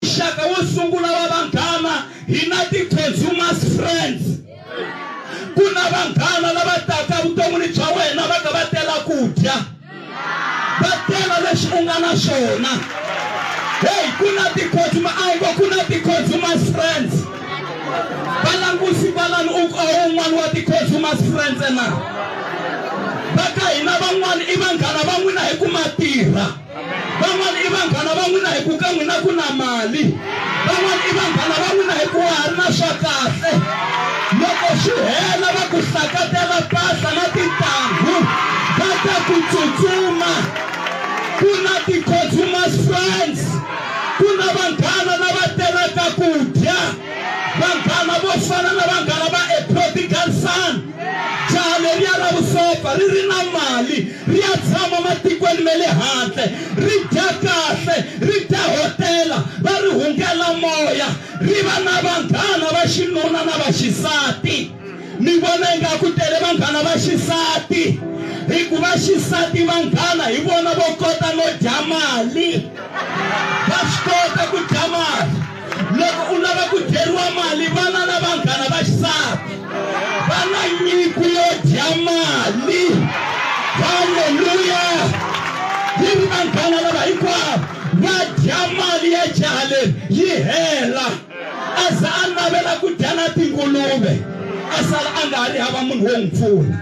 Muxaka wo sungula wa vanghana hi na ti-consumers friends. Ku na vanghana lava taka evuton'wini bya wena va ka va tela ku dya, va tela leswi u nga na swona. Heyi ku na ti-consumer a wu ngo ku na ti-consumers friends. Va langusi kwalani u a wu un'wana wa ti-consumers friends na? Va ka hina van'wana i vanghana va n'wina hi ku ma tirha. van'wana i vanghana va n'wina hi ku ka n'wina ku na mali van'wana i vanghana va n'wina hi ku wa ha ri na swa kahle loko swi hela va ku sakatela pasa na tintangu va ta ku tsutsuma ku na ti-consumers friends ku na vanghana lava telaka ku dya vanghana vo fana na vanghana va a prodigal son Jahale riya ra vusopfa ri ri na mali, ri ya tshama matikweni ma le handle, ri dya kahle, ri dahotela, va ri hungela moya, ri va na vanghana va xinuna na va xisati. Mi vona ingaku tele vanghana va xisati, hikuva xisati vanghana hi vona vo kota no dya mali, va swi kota ku dya mali. loko u lava ku dyeriwa mali vana na vanghana va xisati va na nyiko yo dya mali halleluya yi ri vanghana lava hinkwavo va dya mali ya jaha leri yi hela a za a navela ku dya na tinguluve a sala a nga ha ri hava munhu wo n'wi pfuna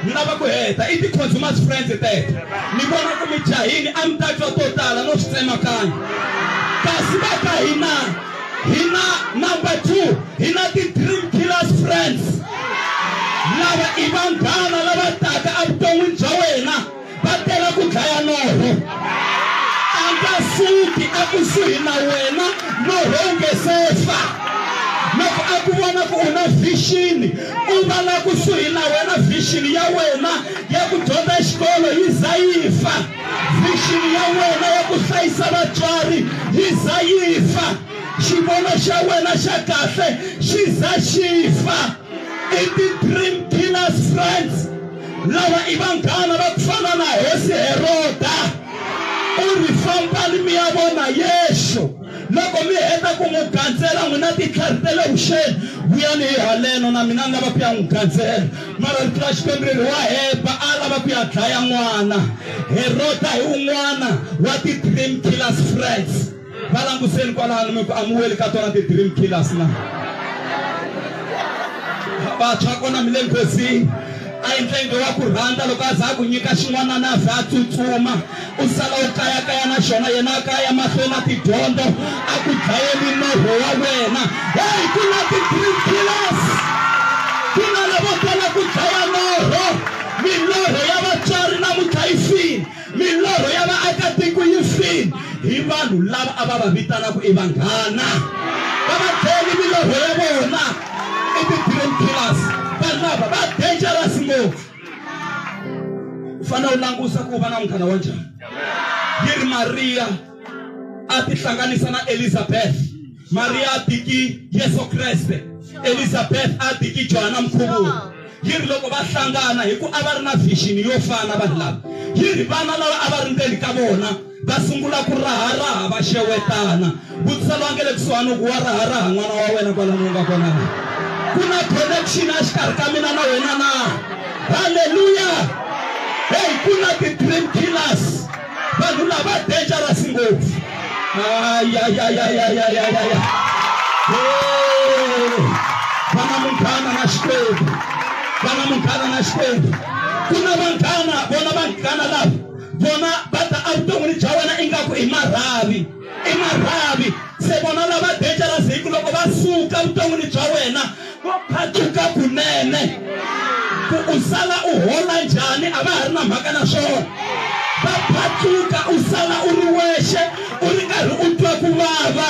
ni lava ku heta i ti-consumers friends teto ni vona ku mi jahini a mi ta twa to tala no swi tsemakanya kasi va ka hina hina number two hina ti-dream killers friends lava i vanghana lava taka evuton'wini bya wena va tela ku dlaya norho a nga suki ekusuhi na wena norho wu nge se fa loko a ku vona ku u na vhixini u va la kusuhi na wena vhixini ya wena ya ku dyondza xikolo yi za yi fa vhixini ya wena ya ku hlayisa vatswari yi za yi fa xivono xa wena xa kahle xi za xi fa i ti-dream killers friends Lava i vanghana va ku fana na hosi Heroda. U ri, Fambani mi ya vona Yesu. Loko mi heta ku n'wi gandzela n'wina titlhari ta le vuxeni, vuyani hi haleno. Na mina ni lava ku ya n'wi gandzela. Mara rito ra Xikwembu ri ri, Wa hemba, a a lava ku ya dlaya n'wana. Heroda hi un'wana wa ti-dream killers, friends. va languseni kwalano mi ku amuweli ka tona ti-dream killers na vantshwa kona mi le nghozini a yi ndlenge wa ku rhandza loko a za a ku nyika xin'wanana a za a tsutsuma u sala u kayakaya na xona yena a kaya mahlweni na tidyondzo a ku dlayeli norho wa wena heyi ku na ti-dream killers ku na lavo tala ku dlaya norho milorho ya vatswari na mutlhayisini Milorho ya vaakatiko yi file hi vanhu lava a va va vitana ku i vanghana. Va va dlele milorho ya vona i ti-dream killers. Vanhu lava va dangerous ngopfu. U fanele u langusa ku u va na munghana wa njhani. Yi ri Mariya a tihlanganisa na Elizabeth. maria atiki yesu kreste elizabeth atiki johana mkhuvuri yi ri loko va hlangana hi ku a va ri na vision yo fana vanhu lava yi ri vana lava a va ri ndzeni ka vona va sungula ku raharaha va xewetana vutisa lowa nge le kusuhani ku wa raharaha n'wana wa wena kwalani u nga kona na ku na connection a xikarhi ka mina na wena na halleluya heyi ku na ti-dream killers vanhu lava dangerous ngopfu ayayayayayayaya va na munghana na xikwembu va na munghana na xikwembu ku na vanghana vona vanghana lava vona va ta evuton'wini bya wena ingaku i marhavi i marhavi se vona lava dangerous hi ku loko va suka vuton'wini bya wena vo phatuka kunene ku u sala u hola njhani a va ha ri na mhaka na swona va phatuka u sala u ri wexe u ri karhi u twa ku vava